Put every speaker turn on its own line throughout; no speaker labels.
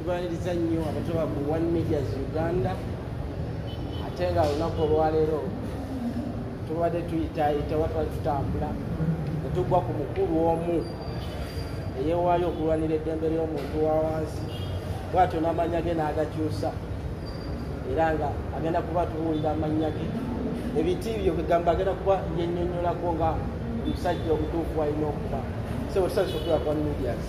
tubaliriza nnyo abatoba ku one medias uganda ate nga olunaku olwaleero tubadde tuyitayita oba twali tutambula netugwa ku mukulu omu eyewaayo okulwanira eddembe ly'omuntu wa wansi bwatyo n'amanya ge n'agakyusa era nga agenda kuba tuwulira amanya ge ebiti byo kwegamba agenda kuba yenyonyolako nga omusajja omutuufu alina okuba sebwetusabisa okuba kwa medias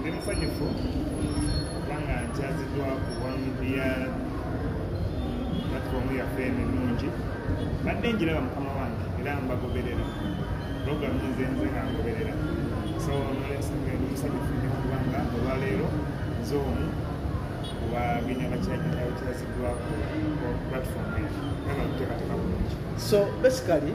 ndi musanyufu kubanga nkyaziddwa ku wamubya platformu yaffe eno ennungi badde njiraba mukama wange era mbagoberera program nze nze nga ngoberera so nolensonga ndi musanyufu nyo kubanga olwaleero nze omu wabina bakyakiakiaziddwa ku platform eyo nga bakuteekateeka bulungi so basically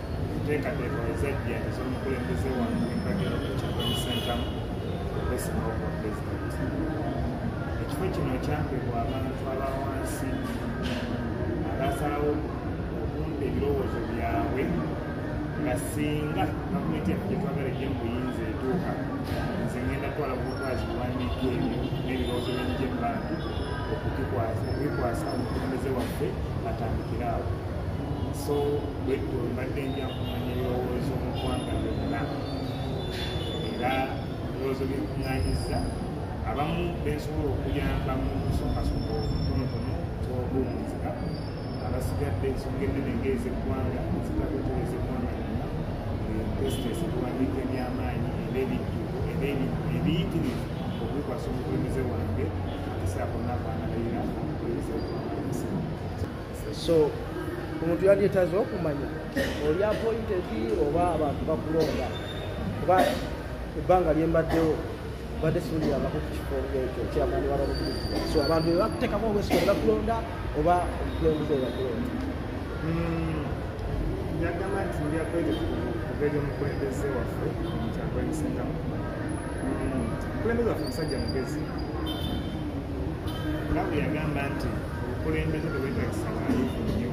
enteekateeka ezajja ez'omukulembeze wange empagero ekyakomisentamu okwesima obwa pulezidenti ekifo kino kyampebwa abantu aba wansi abaasalawo okumpa ebirowoozo byabwe nga singa gavumenti yaffe gyetwagala ejja mu buyinza etuuka nze ngenda twala bukwazi buwandiika ebyo n'ebirowoozo byenije mu bantu okubikwasa omukulembeze waffe atandikire awo so bwetyo mbadde nja kumanya ebirowoozo mu ggwanga lyonna era ebirowoozo byekuŋŋanyiza abamu bensobola okuyamba mu kusookasoka obutonotono tobumuzika abasigadde ensonga ennene ngaezeggwanga zitakutereza eggwanga lyonna tesitesi okuwandiika ebyamaanyi era ebijjuko era ebiyitirivu okubikwasa omukulembeze wange esaako nabaana bayira omukulembeze wange
so omuntu yandyetaza okumanya oli apointedi oba abantu bakulonda kuba ebbanga lyembaddewo badde siulirabako ku kifo ekyo kyamani walabukuliz so abantu bebakuteekamu obwesiko bebakulonda oba omukulembeze webakulonda hmm,
yagamba nti ndyakwere kubeera omukulembeze waffe kyakwemisengao hmm, omukulembeze waffe musajja mugezi nawe yagamba nti obukulembeze tebwetagisa balifu nnyo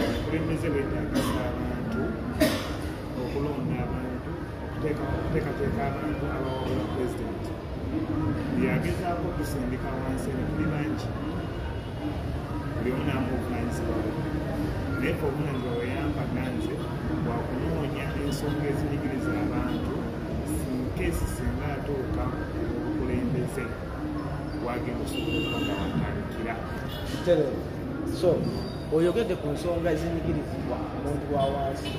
obukulembeze bwetagisa abantu okulonda abantu okuteekateeka abantu abawabula pulezidenti yagezaako okusindika wansi ebituli bangi buli omu naamu obuvanyizibwa naye fe obuvanyizibwa weyampaga nze bwakunoonya ensonga ezinyigiriza abantu sinkeesi singa atuuka obukulembeze
so oyogedde ku nsonga ezinyigirizibwa omuntu wa wansi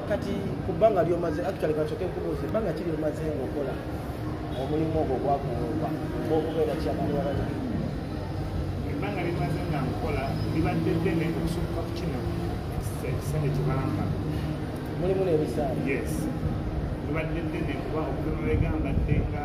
kati ku bbanga lyomaze actually kacoke nkubuuza ebbanga ki lyomaze ngaokola omulimu ogwo gwakuwumba ngaokubeera kyamalwalaa ebbanga
limaze nga nkola libadde ddene okusukka ku kino ekisajja kibamba mulimu
n'ebisaala yes
libadde ddene kuba okubemulegambadde nga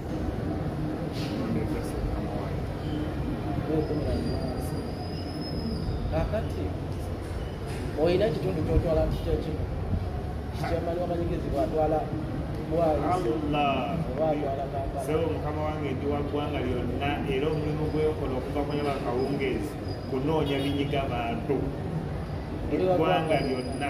kakati olina ekitundu kyotwala nti kyekimu kyamani wamanyigezi bwatwala
sebo mukama wange ndi wa ggwanga lyonna era omulimu gwekola okuva kunyaba kawungeezi kunoonya binyiga bantu eggwanga lyonna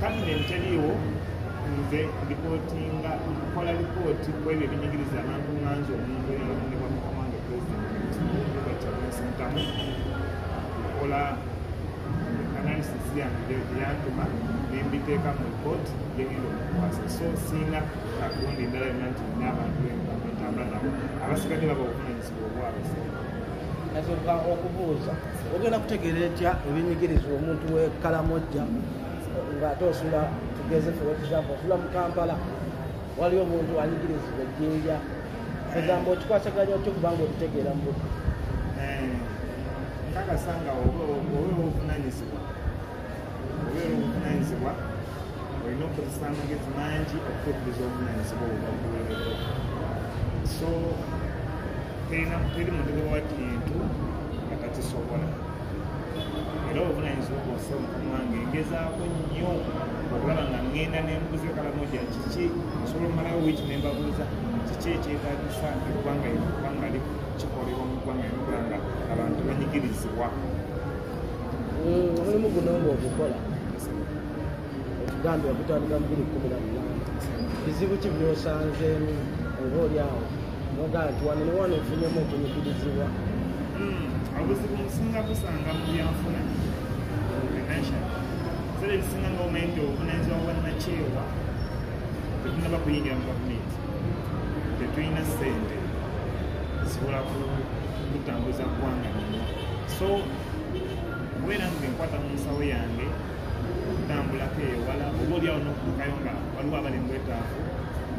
Cabinet
teriiwo nze lipootinga nkola lipooti ku ebyo ebinyigiriza abantu nganzi omuntu eyalondebwa mu kamange pulezidentiamusitamu nkola analysis yange yantuma nembiteeka mu lipooti yegenda omukwasa so siina kakundi endala yonna nti nina abantu entambula nabo abasigadde baba obuvunanyizibwa nasoboka
okubuuza ogenda kutegeera etya ebinyigiriza omuntu wekalamojja ngaate osula tugeze fewekisambu osula mu kampala waliwo omuntu anyigirizibwa ejjinja egamba okikwasaganya otya okubanga okitegeera mu butu eh,
nkakasa nga oba ovunanyizibwa obeera obuvunanyizibwa olina okukozesa amagezi mangi okutuukiriza obuvunanyizibwa obwakuweereko so teri muntu wewa kintu akakisobola era obuvunanyizibwa bwose omukama wange ngezaako nnyo okulaba nga ŋŋenda nembuze kalamoja kiki nsobola omumalawo wiiki nembabuuza kiki ekyetagisa eggwanga eggwanga kikolebwa mu ggwanga eggwanga abantu banyigirizibwa
omulimu guno ngaogukola otugambe okutandika mubiri kumi na munana bizibu ki byosanzeemu oba oli awo nogaa nti wano newano ofunyemu okunyigirizibwa
obuzibu musinga kusanga mu byanfuna zera ebisinga nga omanyi nti obuvunanyizibwa bwannakyewa tetunaba kuyingira mu gavumenti tetulina sente zisobola kutambuza ggwanga nyo so wera nze nkwata mu nsawo yange okutambulako eyo wala oba olyawo n'okutukayo nga waliwo abali mu bwetaavu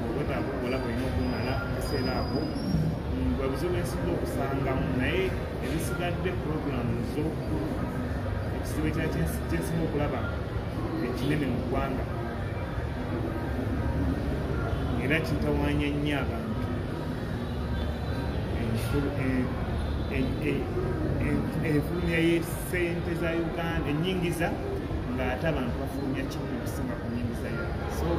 obwetaavu obola bwolina okumala akaseera ako bwe buzibu ensiga okusangamu naye ebisigadde puroguramu zo ekizibu ekya kyensimu okulaba ekinene mu ggwanga era kitawanya nnyo abantu enfulumya yesente za uganda enyingiza ngaate abantu bafulumya kimu okusinga ku nyingiza yo so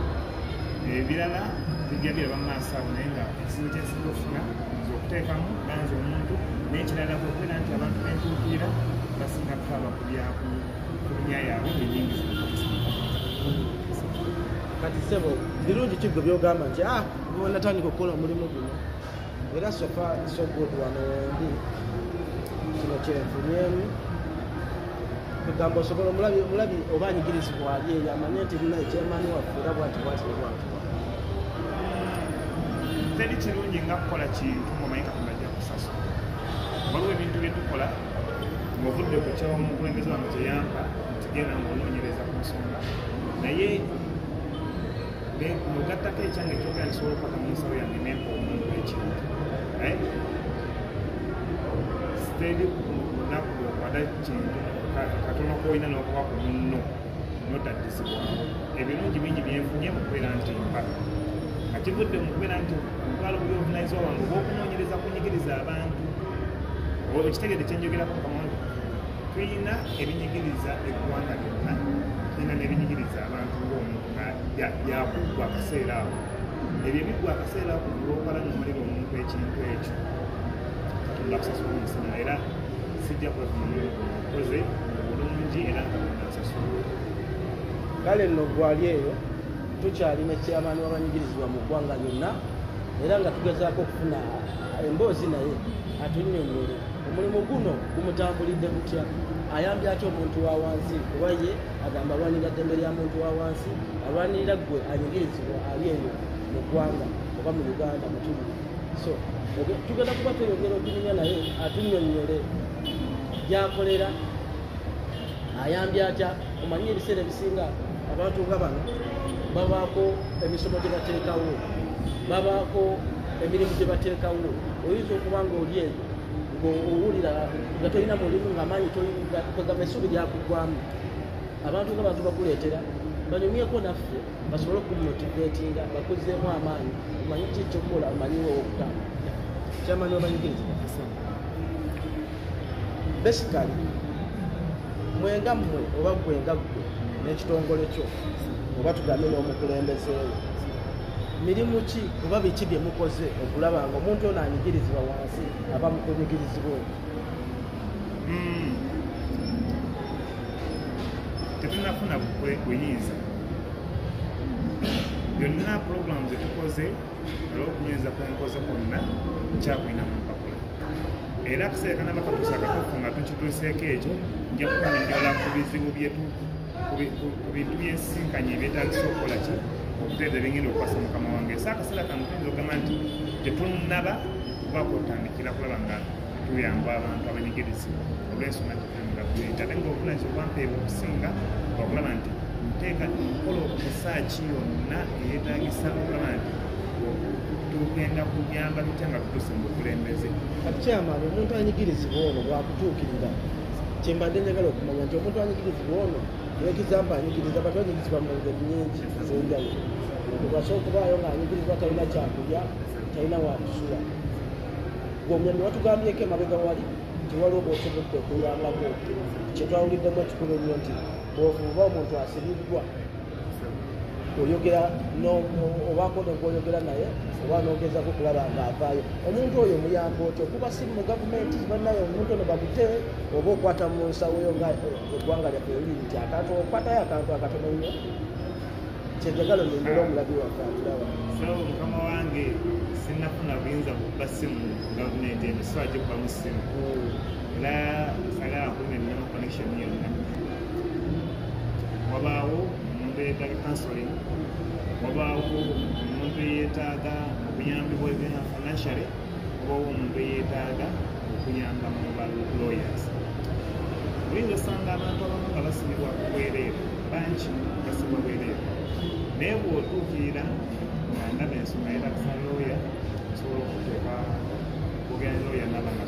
ebirala bijja biraba maaso awo naye nga ekizibu kyensinga okufuna nze okuteekamu banza omuntu naye kirala kwekubeera nti abantu bentuukirira basinga kutaba kubyafulumya yaabwe enyingiza
kati sebo birungi kigwe byogamba nti ah, natandika okukola omulimu guno era sofa sogod wano wendi kino kyenfunyemu kugamba osobola omulabi omulabi oba anyigirizibwa ali eyo amanye nti lina ekyemaani waffe era bwati bwati nebwati
teri kirungi nga kukola kintu ngaomanyi katonda ajja kusasula waliwo ebintu byetukola ngaovudde ku kyawo omukulembeze wano kyeyampa ntigenda ngaonoonyereza ku nsonga naye nogattako ekyange ekyogera nsobola okupaka mu nsawo yange nempa omuntu ekintu eh? sitendi lunaku lwokwada kintu katono kolina nokuba ku munno notadizibwamu ebirungi bingi byenfunye mukubeera nti mba nga kivudde mukubeera nti ntwala obuyovunaizibwa wange obwokunoonyereza kunyigiriza abantu okitegede kyenjogerako mukamwange tulina ebinyigiriza eggwanga lyonna tulina n'ebinyigiriza abantu ng'omuntu yakuggwa akaseera awo ebyo ebiggwa akaseera ako olwokola nomalira omuntu ekintu ekyo katonda akusasula omusana era sijja kwekoze obulungi era nga nasasula
kale nno gwali eyo tukyalina ekyamaani wabanyigirizibwa mu ggwanga lyonna era nga tugezaako okufuna emboozi naye atunyonyole omulimu guno kumutambulidde kutya ayambye atya omuntu wa wansi kuba ye agamba alwanirira ddembe lya muntu wa wansi alwanirira ggwe anyigirizibwa ali eyo mu ggwanga oba mu uganda mutumu so tugenda kuba tweyogera okunyumya naye atunyonyole gyakolera ayambye atya omanyi ebiseera ebisinga abantu nga bano babaako emisomo gye bateekawo babaako emirimu gye bateekawo oyinza okuba nga oli eyo owulira nga tolina mulimu nga maanyi kwegamba essuubi lyakuggwamu abantu nga bantu bakuleetera banyumyeko naffe basobole okumotivetinga bakuzeemu amaanyi omanyi ki kyokukola omanyiwo okutamba kyamani obanyigiriza basically mwenga mmwe oba gwenga ggwe n'ekitongole kyo oba tugambe n'omukulembezeewo mirimu ki oba biki bye mukoze okulaba nga omuntu ono anyigirizibwa wansi aba mukunyigirizibwa oyo hmm.
tetunafuna buyinza byonna puroguramu zetukoze olwokunyinza kwenkoze kwonna kyakulina mu mpapula era kuseekana bakatusa katufu nga tukituuseeko ekyo nja kukunyola ku bizibu byetu ku bintu byensisinkanye ebyetagisa okukola ki okuteeza ebyengenda okukwasa mukama wange ese akaseera kano tuyinza okugamba nti tetunnaba okubaako otandikira kulaba nga tuyamba abantu abanyigirizi olwensonga ntimugakuleeta ate nga obulungi obwampeebwa okusinga okulaba nti nteeka nkola okusaaki yonna eyetagisa okulaba nti tugenda kuyamba tutya nga tutuuse mu bukulembeze kati kyamaani
omuntu anyigirizibwa ono bwakutuukirira kyembadde njagala okumanya nti omuntu anyigirizibwa ono ekizamba anyigiriza batu anyigirizibwa mu ngeri nyingi ezenjawulo okwasa okubaayo ng'anyigirizibwa talina kyakulya talina wakusula gomyami watugambyeko emabega wali tiwaliwo bwosobodde okuyambako kyetwawuliddemu ekikulu ennyo nti bwofuuba omuntu asibiddwa oyogera obaako nogwoyogera naye oba nogezako kulaba nga avaayo omuntu oyo muyamba otyo kuba si mu gavumenti banaye omuntu ono bakute oba okwata mu nsawoyo nga eggwanga lyaffe liri nti akantu okwatayo akantu akatono nnyo kyejagalo nengera omulabi waffe atulawa mukama
wange sinafuna buyinza kukuba simu gavumenti eno siwa gikuba mu simu hmm. era sagala kuba ennyo connection yonna wabaawo omuntu eyetaaga counseling wabaawo omuntu eyetaaga okuyambibwa ebya financially wabaawo omuntu eyetaaga okuyamba mu ba lawyers oyinza osanga abantu abamu nga basibibwa ku bwereere bangi basibwa bwereere naye bwotuukirira nga ndaba ensonga yetakusa looya osobola okuteeka kugenda looya nabanga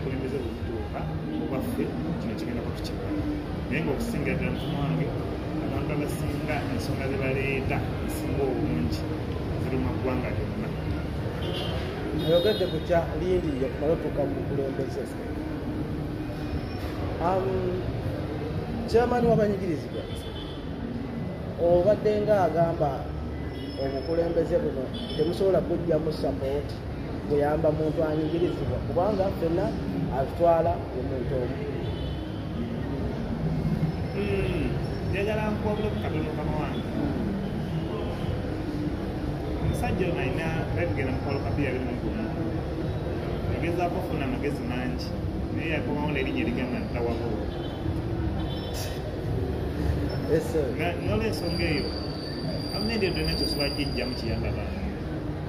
kulembeze bwebutuuka obaffe kino kigenda kutukibwa naye ngaokusinga ddala mufumu wange abantu abasinga ensonga zebaleeta esinga obungi ziri mu ggwanga lyonna
ayogedde ku kya lindi yekumala otuuka mu bukulembeze kyamani wabanyigirizibwa obadde nga agamba obukulembeze buno temusobola kujjamu sapooti kuyamba muntu anyigirizibwa kubanga fena atutwala omuntu omu
hmm, njagala nkuwabula kukatono kama wange omusajja ono alina babigenda mukwalo kabiya biri mugumu yagezaako ofuna amagezi mangi naye yakomawo nerinnya erigamba ntawabo nolwensonga eyo amnendeedo nakyo swajijjamu kiyamba bantu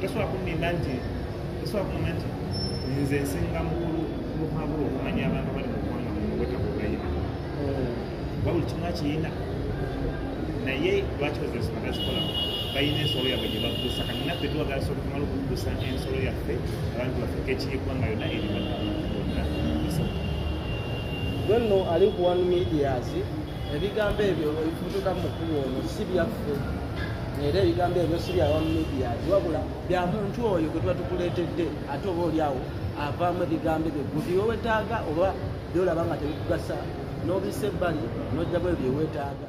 Tosobola kunnimba nti tosobola kumanya nti nze nsinga mukulu muhango okumanya abantu abali mu ggwanga mu bwetaavu bweyina kuba buli kimu akiyina naye lwaki bazinsolo bazikola balina ensolo yabwe gye baggusa kati naffe tuwagala soka tumala okuggusa ensolo yaffe abantu baffe kekiyiggwanga yonna erimaddala bonna
nno ali ku one medias ebigambo ebyo ebifutuka mu mukulu ono si byaffe era ebigambo ebyo si bya wamidia wabula bya muntu oyo gwe tuba tukuleetedde ate oba oli awo avaamu ebigambo ebyo guti wewetaaga oba byolaba nga tebikugasa n'obisa ebbali n'ojjamu ebyo byewetaaga